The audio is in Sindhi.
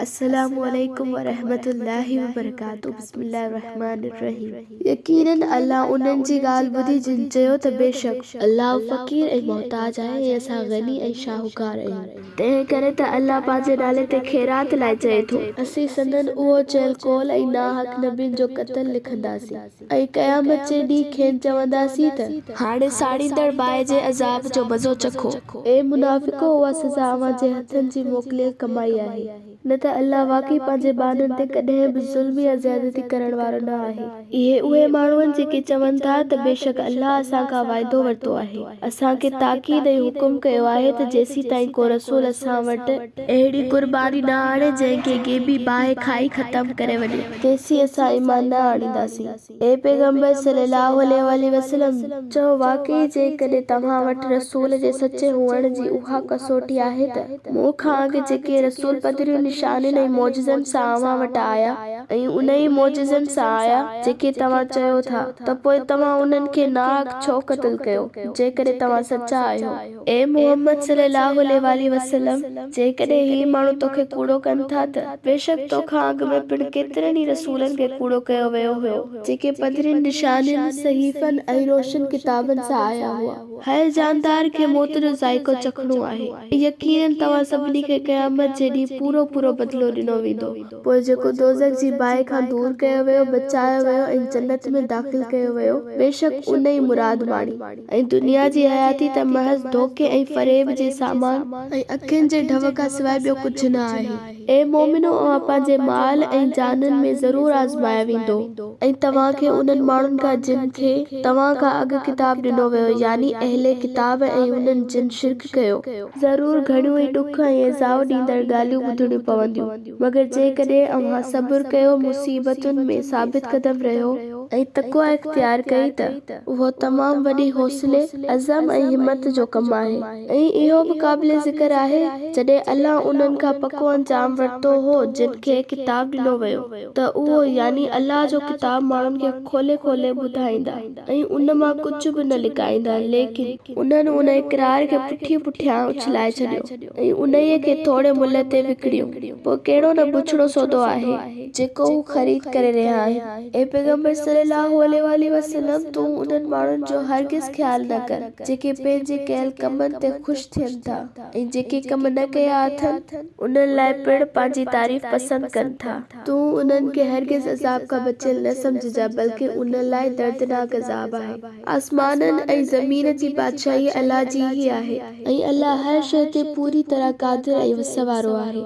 السلام عليڪم ورحمة الله وبرڪاته بسم الله الرحمٰن الرحيم يقيناً الله انهن جي ڳالهه ٻڌي جن چيو ته بيشڪ. الله فقير ۽ محتاج آهي ۽ اسان غني ۽ شاهوڪار آهيون. تنهن ڪري ته الله پنهنجي نالي تي خيرات لاء چئي ٿو. اسين سندن اهو چيل قول ۽ ناحق نبين جو قتل لکنداسين. ۽ قيامت جي ڏينهن کين چونداسين ته. هاڻي ساڙيندڙ باهه جي عذاب جو مزو چکو. اي منافقو! اها سزا اوهان جي هٿن جي موڪليل ڪمائي آهي. نه ته الله واقعي پنهنجي ٻانهن تي ڪڏهن به ظلم يا زيادتي ڪرڻ وارو نه آهي. اهي اهي ماڻهو آهن جيڪي چون ٿا ته بيشڪ الله اسان کان واعدو ورتو آهي. اسان کي تاڪيد ۽ حڪم ڪيو آهي ته جيسيتائين ڪو رسول اسان وٽ. اهڙي قرباني نه آڻي جنهن کي غيبي باهه کائي ختم ڪري وڃي. کيسي اسان ايمان نه آڻينداسين. اي پيغمبر صلّي الله عليه واٰله وسلّم! چئو، واقعي جيڪڏهن توهان وٽ رسول جي سچي هئڻ جي اها ڪسوٽي آهي ته مون کان اڳ جيڪي رسول پڌرين نشانين ۽ معجزن سان اوهان وٽ آيا ۽ انهيء معجزن سان آيا جيڪي توهان چئو ٿا ته پوء توهان انهن کي ناحق ڇو قتل ڪيو جيڪڏهن توهان سچا آهيو. اي محمد صلّي اللّٰه عليه واٰله وسلّم! جيڪڏهن هي ماڻهو تو کي ڪوڙو ڪن ٿا ته بيشڪ تو کان اڳ ۾ پڻ ڪيترن ئي رسولن کي ڪوڙو ڪيو ويو هيو، جيڪي پڌرين نشانين، صحيفن ۽ روشن ڪتابن سان آيا هئا. هر جاندار کي موت جو ذائقو چکڻو آهي. يقيناً توهان سڀني کي قيامت جي ڏينهن پورو پورو بدلو ڏنو ويندو. پوء جيڪو دوزخ جي باهه کان دور ڪيو ويو، بچايو ويو ۽ جنت ۾ داخل ڪيو ويو، بيشڪ ان ئي مراد ماڻي. ۽ دنيا جي حياتي ته محض ڌوڪي ۽ فريب جي سامان. ۽ اکين جي ڍؤ کان سواء ٻيو ڪجهه نه آهي. اي مؤمنو! اوهان پنهنجي مال ۽ جانن ۾ ضرور آزمايا ويندو. ۽ توهان کي انهن ماڻهن کان جن کي، توهان کان اڳ، ڪتاب ڏنو ويو، يعني اهل ڪتاب، ۽ انهن جن شرڪ ڪيو. ضرور گهڻيون ئي ڏک ۽ ايذاء ڏيندڙ ڳالهيون ٻڌڻيون پونديون. مگر جيڪڏهن اوهان صبر ڪيو، مصيبتن ۾ ثابت قدم رهيو ۽ تقويٰ اختيار ڪئي ته اهو تمام وڏي حوصلي، عزم ۽ همت جو ڪم آهي ۽ اهو به قابل ذڪر آهي جڏهن الله انهن کان پڪو انجام ورتو هو جن کي ڪتاب ڏنو ويو ته اهو يعني الله جو ڪتاب ماڻهن کي کولي کولي ٻڌائيندا ۽ ان مان ڪجهه به نه لڪائيندا ليڪن انهن ان اقرار کي پٺي پٺيان اڇلائي ڇڏيو. ۽ انهيء کي ٿوري ملهه تي وڪڻيو، پوء ڪهڙو نه بڇڙو سودو آهي، جيڪو هو خريد ڪري رهيا آهن. اي پيغمبر صلّي اللّٰه عليه واٰله وسلّم! تون انهن ماڻهن جو هرگز خيال نه ڪر، جيڪي پنهنجي ڪيل ڪمن تي خوش ٿين ٿا ۽ جيڪي ڪم نه ڪيا اٿن، انهن لاء پڻ پنهنجي تعريف پسند ڪن ٿا. تون انهن کي هرگز عذاب کان بچيل نه سمجهجانء، بلڪه انهن لاء دردناڪ عذاب آهي. آسمانن ۽ زمين جي بادشاهي الله جي ئي آهي ۽ الله هر شيء تي پوري طرح قادر ۽ وس وارو آهي.